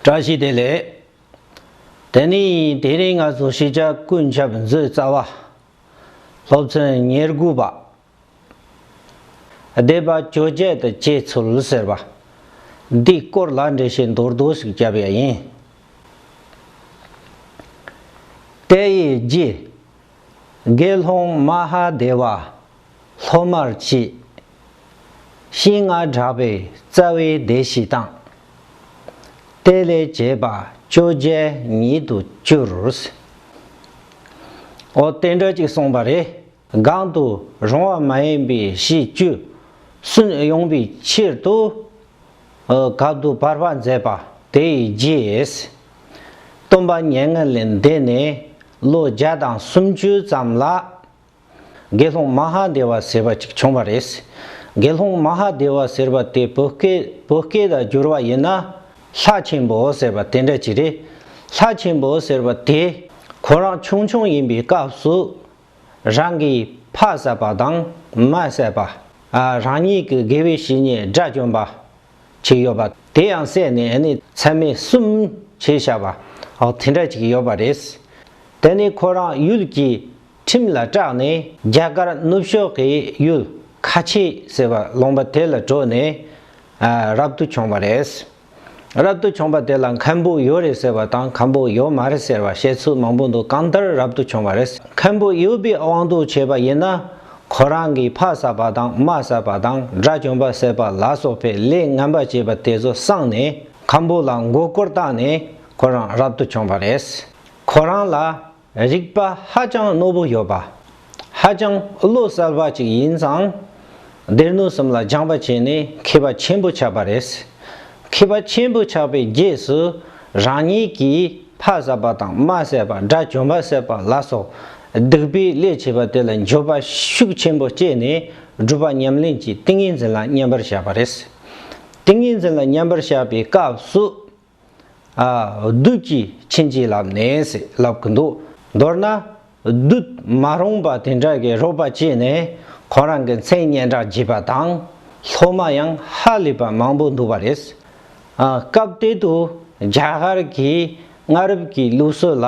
བཀྲ་ཤིས་བདེ་ལེགས། དེ་ནི་དེ་རིང་ང་ཚོ་ཤེས་བྱ་ཀུན་ཁྱབ་མཛོད་རྩ་བ། སློབ་ཚན་ཉེར་དགུ་པ། སྡེ་པ་བཅོ་བརྒྱད་དུ་སྐྱེས་ཚུལ་ཟེར་བ། འདིའི་སྐོར་ལ་འགྲེལ་བཤད་མདོར་བསྡུས་ཤིག་བརྒྱབ་ཡ་ཡིན། དེ་ཡི་རྗེས་དགེ་སློང་མ་ཧ་དེ་བ། སློབ་མར་བཅས། ཤིང་མངར་བསྒྲགས་པའི་རྩ་བའི་སྡེ་བཞི་བཏང། གཏེར་ལས་བྱས་པ་བཅོ་བརྒྱད་ཉིད་དུ་བསྐྱུར། འོ་གཏེར་འདྲ་གཅིག་གསུངས་པ་རེ་སྒང་དུ་རུང་བ་མ་ཡིན་པའི་གཞི་བཅུ་སུན་དབྱུང་བའི་ཕྱིར་དུ། གབ་ཏུ་བར་པ་མཛད་པ་དེ་ཡི་རྗེས། སྟོན་པ་ཉེ་ལྔ་ལས་འདས་ནས་ལོ་བརྒྱ་དང་སུམ་ཅུ་ཙམ་ལ། དགེ་སློང་མ་ཧ་དེ་བ་ཟེར་བ་ཅིག་བྱུང་བ་རེད། དགེ་སློང་མ་ཧ་དེ་བ་ཟེར་བ་དེ་བོད་སྐད་བོད་སྐད་དུ་བསྒྱུར་བ་ཡིན་ན། ལྷ་ཆེན་པོ་ཟེར་བ་དེ་འདྲ་ཅིག་རེད། ལྷ་ཆེན་པོ་ཟེར་བ་དེ་ཁོ་རང་ཆུང་ཆུང་ཡིན་པའི་སྐབས་སུ། རང་གི་ཕ་བསད་པ་དང་མ་བསད་པ། རང་ཉིད་ཀྱི་དགེ་བའི་བཤེས་གཉེན་དགྲ་བཅོམ་པ། ཅིག་ཡོད་པ་དེ་ཡང་བསད་ནས་ཨེ་ནི་ཚད་མེད་གསུམ་བྱས་བཞག་པ་དེ་འདྲ་ཅིག་ཡོད་པ་རེད། དེ་ནས་ཁོ་རང་ཡུལ་གྱི་ཁྲིམས་ལ་སྐྲག་ནས། རྒྱ་གར་ནུབ་ཕྱོགས་ཀྱི་ཡུལ་ཁ་ཆེ་ཟེར་བ་ལོང་པ་དེ་ལ་བྲོས་ནས་རབ་ཏུ་བྱུང་བ་རེད། རབ་ཏུ་བྱུང་བ་དེ་ལ་མཁན་པོ་ཡོད་རེད་ཟེར་བ་དང་མཁན་པོ་ཡོད་མ་རེད་ཟེར་བ་བཤད་ཚུལ་མང་པོ་འདུག་གང་ལྟར་རབ་ཏུ་བྱུང་བ་རེད། མཁན་པོ་ཡོད་པའི་དབང་དུ་བྱས་པ་ཡིན་ན་ཁོ་རང་གིས་ཕ་བསད་པ་དང་མ་བསད་པ་དང་དགྲ་བཅོམ་པ་བསད་པ་ལ་སོགས་པའི་ལས་ངན་པ་བྱས་པ་དེ་ཚོ་བསྲངས་ནས་མཁན་པོ་ལ་མགོ་སྐོར་བཏང་ནས་ཁོ་རང་རབ་ཏུ་བྱུང་བ་རེད། ཁོ་རང་ལ་རིག་པ་ཧ་ཅང་རྣོ་པོ་ཡོད་པ། ཧ་ཅང་བློ་གསལ་བ་ཅིག་ཡིན་ཙང། སྡེ་སྣོད་གསུམ་ལ་སྦྱངས་པ་བྱས་ནས་མཁས་པ་ཆེན་པོ་ཆགས་པ་རེད། མཁས་པ་ཆེན་པོ་ཆགས་པའི་རྗེས་སུ་རང་ཉིད་ཀྱིས་ཕ་བསད་པ་དང་མ་བསད་པ་དགྲ་བཅོམ་པ་བསད་པ་ལ་སོགས་སྡིག་པའི་ལས་བྱས་པ་དེ་ལ་འགྱོད་པ་ཤུགས་ཆེན་པོ་སྐྱེས་ནས་སྒྲུབ་པ་ཉམས་ལེན་གྱི་ཏིང་ངེ་འཛིན་ལ་མཉམ་པར་བཞག་པ་རེད། ཏིང་ངེ་འཛིན་ལ་མཉམ་པར་བཞག་པའི་སྐབས་སུ། བདུད་ཀྱིས་ཕྱིན་ཅི་ལབ་ནས་ཟིག་ལབ་གི་འདུག་མདོར་ན། བདུད་མ་རུངས་པ་དེ་འདྲ་གི་རོགས་པ་བྱས་ནས་ཁོང་རང་གི་མཚན་སྙན་གྲགས་བརྗེས་པ་དང། སློབ་མ་ཡང་ཧ་ལས་པ་མང་པོ་འདུག་པ་རེད། སྐབས་དེ་དུས་རྒྱ་གར་གྱི་སྔ་རབས་ཀྱི་ལུགས་སྲོལ་ལ།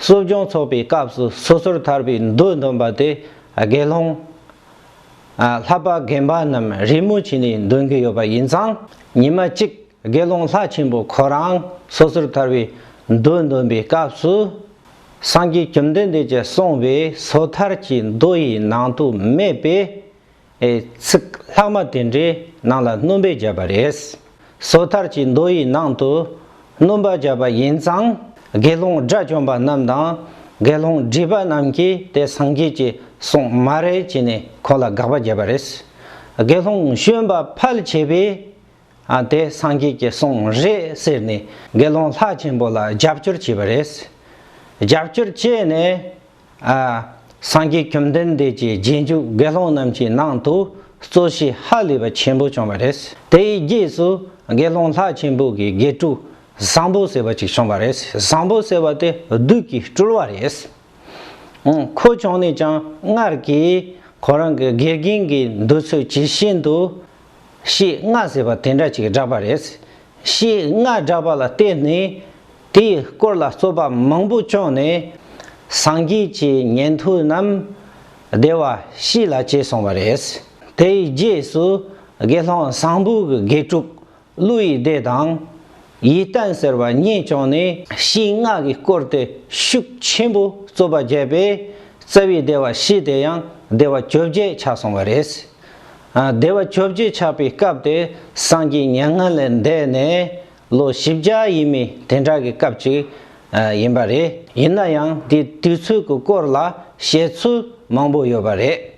གསོ་སྦྱོང་ཚོགས་པའི་སྐབས་སུ་སོ་སོར་ཐར་པའི་མདོས་འདོན་པ་དེ་དགེ་སློང། ལྷ་པ་རྒན་པ་རྣམས་རེས་མོས་བྱས་ནས་འདོན་གྱི་ཡོད་པ་ཡིན་ཙང་ཉི་མ་གཅིག་དགེ་སློང་ལྷ་ཆེན་པོ་ཁོ་རང་སོ་སོར་ཐར་བའི་མདོས་འདོན་པའི་སྐབས་སུ། སངས་རྒྱས་བཅོམ་ལྡན་འདས་ཀྱིས་གསུངས་པའི་སོ་ཐར་གྱི་མདོ་ཡི་ནང་དུ་མེད་པའི། ཚིག་ལྷག་མ་དེ་འདྲའི་ནང་ལ་སྣུམ་པས་བརྒྱབ་པ་རེད། སོ་ཐར་གྱི་མདོ་ཡི་ནང་དུ་སྣུམ་པ་བརྒྱབ་པ་ཡིན་ཙང་དགེ་སློང་དགྲ་བཅོམ་པ་རྣམས་དང་དགེ་སློང་སྒྲིབ་པ་རྣམས་ཀྱིས་དེ་སངས་རྒྱས་ཀྱིས་གསུངས་མ་རེད་ཅེས་ནས་ཁོང་ལ་དགག་པ་བརྒྱབ་པ་རེད། དགེ་སློང་གཞོན་པ་ཕལ་ཆེ་བས་ཨ་དེ་སངས་རྒྱས་ཀྱི་གསུང་རེད་ཟེར་ནས་དགེ་སློང་ལྷ་ཆེན་པོ་ལ་རྒྱབ་སྐྱོར་བྱས་པ་རེད། རྒྱབ་སྐྱོར་བྱས་ནས། སངས་རྒྱས་བཅོམ་ལྡན་འདས་ཀྱི་རྗེས་འཇུག་དགེ་སློང་རྣམས་ཀྱི་ནང་དུ་གཙོ་བྱས་ཧ་ལས་པ་ཆེན་པོ་བྱུང་བ་རེད། དེའི་རྗེས་སུ་དགེ་སློང་ལྷ་ཆེན་པོ་གི་དགེ་ཕྲུག་བཟང་པོ་ཟེར་བ་ཅིག་བྱུང་བ་རེད་བཟང་པོ་ཟེར་བ་དེ་བདུད་ཀྱི་སྤྲུལ་བ་རེད། ཁོ་བྱུང་ནས་ཀྱང་སྔར་གྱི་ཁོ་རང་གི་དགེ་རྒན་གྱི་འདོད་ཚུལ་ཇི་བཞིན་དུ། ཞེས་སྔགས་ཟེར་བ་དེ་འདྲ་ཅིག་བསྒྲགས་པ་རེད། ཞེས་སྔགས་བསྒྲགས་པ་ལ་བརྟེན་ནས། དེའི་སྐོར་ལ་རྩོད་པ་མང་པོ་བྱུང་ནས། སངས་རྒྱས་ཀྱི་ཉན་ཐོས་རྣམས། བདེ་བར་གཤེགས་ལ་བྱས་སོང་བ་རེད། དེའི་རྗེས་སུ་དགེ་སློང་བཟང་པོ་གི་དགེ་ཕྲུག་ཀླུ་ཡི་སྡེ་དང། ཡིད་བརྟན་ཟེར་བ་རྙེད་བྱུང་ནས་ཞིང་སྔགས་ཀྱི་སྐོར་དེ་ཤུགས་ཆེན་པོས་རྩོད་པ་བརྒྱབ་པས་རྩ་བའི་སྡེ་བ་བཞི་དེ་ཡང་སྡེ་བ་བཅོ་བརྒྱད་ཆགས་སོང་བ་རེད། སྡེ་བ་བཅོ་བརྒྱད་ཆགས་པའི་སྐབས་དེ་སངས་རྒྱས་མྱ་ངན་ལས་འདས་ནས་ལོ་བཞི་བརྒྱ་ཡིན་མིན་དེ་འདྲ་གི་སྐབས་ཅིག་ཡིན་པ་རེད། ཡིན་ན་ཡང་དེའི་དུས་ཚོད་ཀྱི་སྐོར་ལ་བཤད་ཚུལ་མང་པོ་ཡོད་པ་རེད།